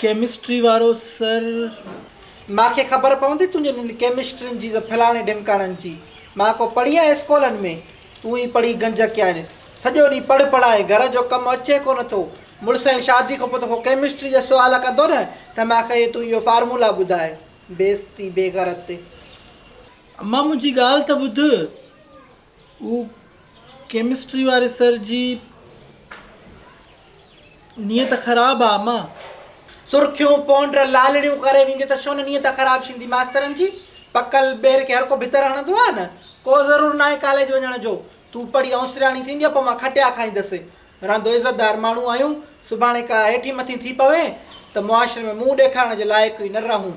Chemistry وارو sir. مان کي خبر پوندي تنهنجي انهن ڪيمسٽرين جي ته ڦلاڻي ڍمڪاڻن جي. مان ڪو پڙهي آهي اسڪولن ۾. تون ئي پڙهي گنج ڪيا آهن. سڄو ڏينهن پڙهه پڙهائي گهر جو ڪم اچي ڪونه ٿو. مڙس جي شادي کان پوء تو کان ڪيمسٽري جا سوال ڪندو نه ته مان کي تون اهو فارمولا ٻڌاء. بيعزتي بيغيرت. امان منهنجي ڳالهه ته ٻڌ. هو ڪيمسٽري واري سر جي نيت خراب آ امان. سرخيون پونڊر لالڙيون ڪري ويندي ته شون نيت خراب شيندي ماسترن جي پڪل ٻير کي هر ڪو ڀتر هڻندو آ نه ڪو ضرور ناهي ڪاليج وڃڻ جو تون پڙهي اوسرياڻي ٿينديء پو مان کٽيا کائيندس رهندو عزت دار ماڻهو آهيون سڀاڻي ڪا هيٺين مٿين ٿي پوين ته معاشري ۾ منهن ڏيکارڻ جي لائق ئي نه رهون.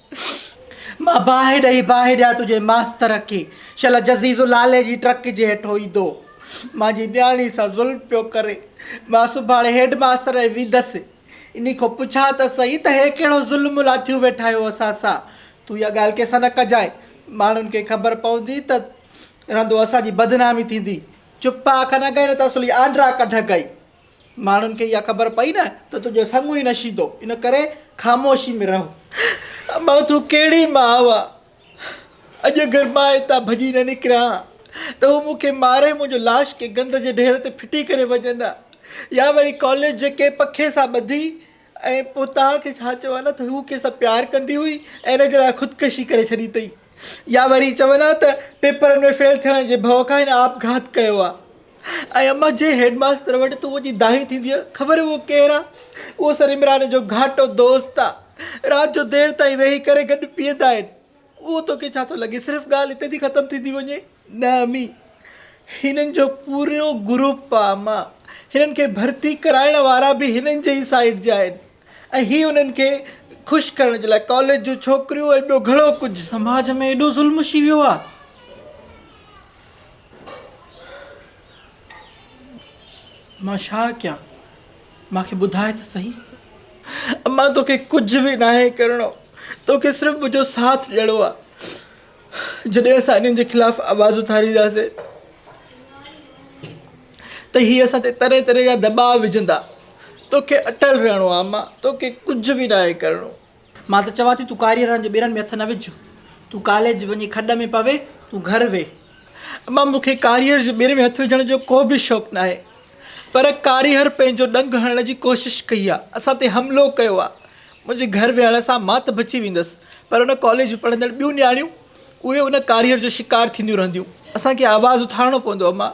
مان باهه ڏئي باهه ڏيان تنهنجي ماستر کي، شل جزيزو لالي جي ٽرڪ جي هيٺ هوندو هو. منهنجي نياڻي سان ظلم پيو ڪري. مان سڀاڻي هيڊ ماستر ڏي ويندس. انهي کان پڇان ته سهي ته هي ڪهڙو ظلم لاٿيون ويٺا آهيو اسان سان. تون اها ڳالهه ڪنهن سان نه ڪجانء. ماڻهن کي خبر پوندي ته رندو اسان جي بدنامي ٿيندي. چپ آ کن اڳئي نه ته اصلي آنڊرا ڪڍ اڳئي. ماڻهن کي اها خبر پئي نه ته تنهنجو سڱو ئي نشيندو، ان ڪري خاموشي ۾ رهه. اما تون ڪهڙي ماء آهه؟ اڄ اگر مان هتان ڀڄي نه نڪريان ها ته هو مون کي ماري منهنجو لاش ڪنهن گند جي ڍير تي ڦٽي ڪري وڃن ها يا وري ڪاليج جي ڪنهن پکي سان ٻڌي ۽ پوء توهان کي ڇا چوان ها ته هوء کيسان پيار ڪندي هئي ۽ ان جي لاء خودڪشي ڪري ڇڏي اٿئي يا وري چون ها ته پيپرن ۾ فيل ٿيڻ جي ڀؤ کان هن آپگهات ڪيو آهي ۽ امان جي هيڊ ماستر وٽ تون وڃي دانهين ٿيندينء خبر اهو ڪير آهي اهو سر عمران جو گهاٽو دوست آهي رات جو دير تائين ويهي ڪري گڏ پيئندا آهن اهو توکي ڇا ٿو لڳي صرف ڳالهه اتي ٿي ختم ٿيندي وڃي؟ نه امي هنن جو پورو گروپ آ اما هنن کي ڀرتي ڪرائڻ وارا به هنن جي ئي سائيڊ جا آهن ۽ هي انهن کي خوش ڪرڻ جي لاء ڪاليج جون ڇوڪريون ۽ ٻيو گهڻو ڪجهه سماج ۾ ايڏو ظلم اچي ويو آ. مان ڇا ڪيان؟ مان کي ٻڌاء ته سهي. امان توکي ڪجهه به ناهي ڪرڻو، توکي صرف منهنجو ساٿ ڏيڻو آ. جڏهن اسان انهن جي خلاف آواز اٿارينداسين ته هي اسان تي طرح طرح جا دٻاء وجهندا. توکي اٽل رهڻو آ امان، توکي ڪجهه به ناهي ڪرڻو. مان ته چوان ٿي تون ڪاري رن جي ٻيرن ۾ هٿ نه وجهه تون ڪاليج وڃي کڏ ۾ پوي تون گهر ويهه. اما مون کي ڪاريهر جي ٻيرن ۾ هٿ وجهڻ جو ڪو به شوق ناهي پر ڪاريهر پنهنجو ڏنگ هڻڻ جي ڪوشش ڪئي آ اسان تي حملو ڪيو آ منهنجي گهر ويهڻ سان مان ته بچي ويندس پر ان ڪاليج ۾ پڙهندڙ ٻيون نياڻيون اهي ان ڪاريهر جو شڪار ٿينديون رهنديون اسان کي آواز اٿارڻو پوندو اما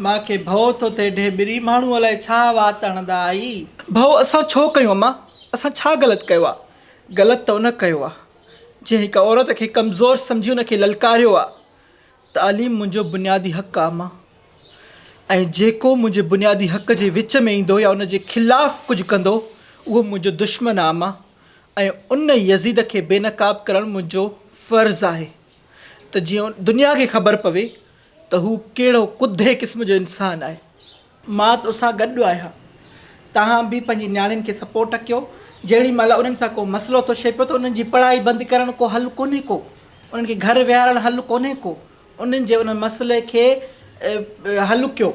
مان کي ڀئو ٿو ٿئي ڍيٻري ماڻهو الائي ڇا وات اڻندا آهي. ڀئو اسان ڇو ڪيون اما اسان ڇا غلط ڪيو آهي غلط ته ان ڪيو آهي جنهن هڪ عورت کي ڪمزور سمجهي ان کي للڪاريو آهي تعليم منهنجو بنيادي حق آهي اما ۽ جيڪو منهنجي بنيادي حق جي وچ ۾ ايندو يا ان جي خلاف ڪجهه ڪندو اهو منهنجو دشمن آهي اما ۽ ان يزيد کي بينقاب ڪرڻ منهنجو فرض آهي ته جيئن دنيا کي خبر پوي ته هو ڪهڙو ڪڌي قسم جو انسان آهي. مان تو سان گڏ آهيان توهان به پنهنجي نياڻين کي سپورٽ ڪيو جهڙي مهل انهن سان ڪو مسئلو ٿو شي پيو ته انهن جي پڙهائي بند ڪرڻ ڪو حل ڪونهي ڪو انهن کي گهر ويهارڻ حل ڪونهي ڪو انهن جي ان مسئلي کي حل ڪيو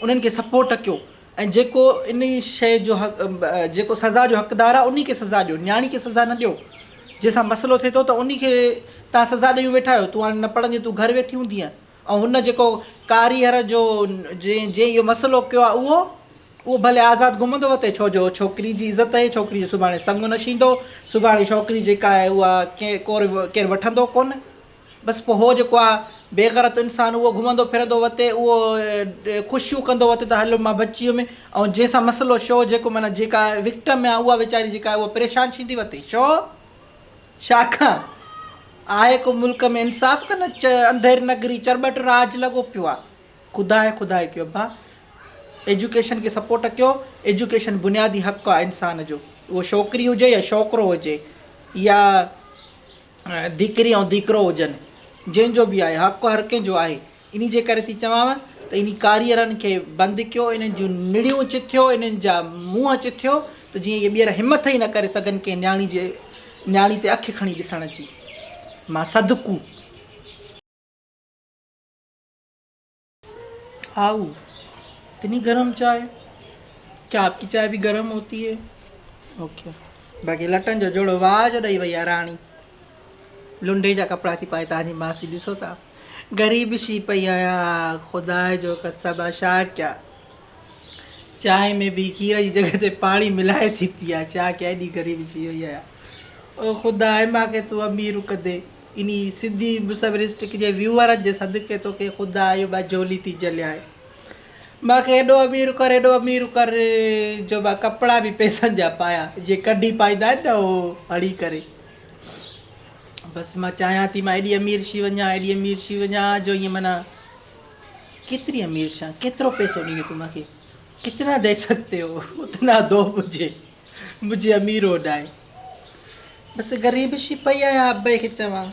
انهن کي سپورٽ ڪيو ۽ جيڪو انهي شيء جو جيڪو سزا جو حقدار آهي انهي کي سزا ڏيو نياڻي کي سزا نه ڏيو جنهن سان مسئلو ٿئي ٿو ته انهي کي تهان سزا ڏيون ويٺا آهيو تون هاڻي نه پڙهندين تون گهر ويٺي هوندينء ۽ هن جيڪو ڪاريهر جو جنهن جنهن اهو مسئلو ڪيو آهي اهو اهو ڀلي آزاد گهمندو وتي ڇو جو ڇوڪري جي عزت اهي ڇوڪري جو سڀاڻي سڱ نشيندو سڀاڻي ڇوڪري جيڪا آهي اها ڪير ڪير وٺندو ڪونه بس پوء هو جيڪو آ بيغرت انسان اهو گهمندو ڦرندو وتي اهو خوشيون ڪندو وتي ته هل مان بچي ويم ۽ جنهن سان مسئلو شو جيڪو معنيٰ جيڪا وڪٽم آ اها ويچاري جيڪا آهي اها پريشان ڇيندي وتي شو شاخان آهي ڪو ملڪ ۾ انصاف ڪن انڌير نگري چرٻٽ راج لڳو پيو آ خدا هي خدا هي ڪيو ڀا ايجوڪيشن کي سپورٽ ڪيو ايجوڪيشن بنيادي حق آ انسان جو اهو شوڪري هجي يا شوڪرو هجي يا ڌيڪري ۽ ڌيڪرو هجن، جنهن جو به آهي، حق هر ڪنهن جو آهي. انهي جي ڪري ٿي چوانء ته انهي ڪاريئرن کي بند ڪيو، انهن جون نڙيون چٿيو، انهن جا منهن چٿيو ته جيئن اهي ٻيهر همٿ ئي نه ڪري سگهن ڪنهن نياڻي جي نياڻي تي اک کڻي ڏسڻ جي. مان صدقو. آئو اتني گرم چائي ڪيا آپڪي چائي به گرم هوتي هي اوکي باقي لٽن جو جوڙو واهه جو ڏئي وئي آ راڻي لنڊي جا ڪپڙا ٿي پائي تانجي ماسي ڏسو تا غريب شي پئي آيا خدا جو قسم آ شا ڪيا چائي ۾ به کير جي جڳهه تي پاڻي ملائي ٿي پيا چا ڪيا ايڏي غريب شي وئي آيا او خدا ماکي تو امير ڪدي انهي سڌي مسويرسٽڪ جي ويوهارن جي صدقي توکي خدا اهو ٻه جهولي ٿي جهليائين. مان کي هيڏو امير ڪر هيڏو امير ڪر جو مان ڪپڙا به پئسن جا پايان جيئن ڪڍي پائيندا آهن نه اهو هڻي ڪري. بس مان چاهيان ٿي مان ايڏي امير شي وڃان ايڏي امير شي وڃان جو ائين معنيٰ ڪيتري امير شان ڪيترو پئسو ڏيندين تون مانکي ڪتنا دي سگتي هو اتنا دو مجهي. منهنجي امير اوڏائي بس غريب شي پئي آهيان ابي کي چوان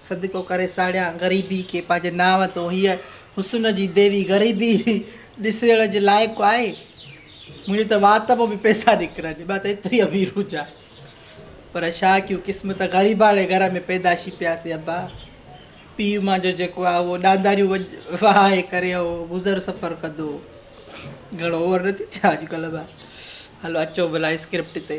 صدقو ڪري ساڙيان غريبي کي پنهنجي نانء تون هيء حسن جي ديوي غريبي ڏسجڻ جي لائق آهي منهنجي ته وات مان به پئسا نڪرن مان ته ايتري امير هجان پر ڇا ڪيون قسمت غريباڻي گهر ۾ پيدائشي پياسي ابا پيء مان جو جيڪو آهي اهو ڏانداريون وڄ وهائي ڪري اهو گذر سفر ڪندو گهڻو اوور نه ٿي ٿيان اڄڪلهه مان هلو اچو ڀلا اسڪرپٽ تي.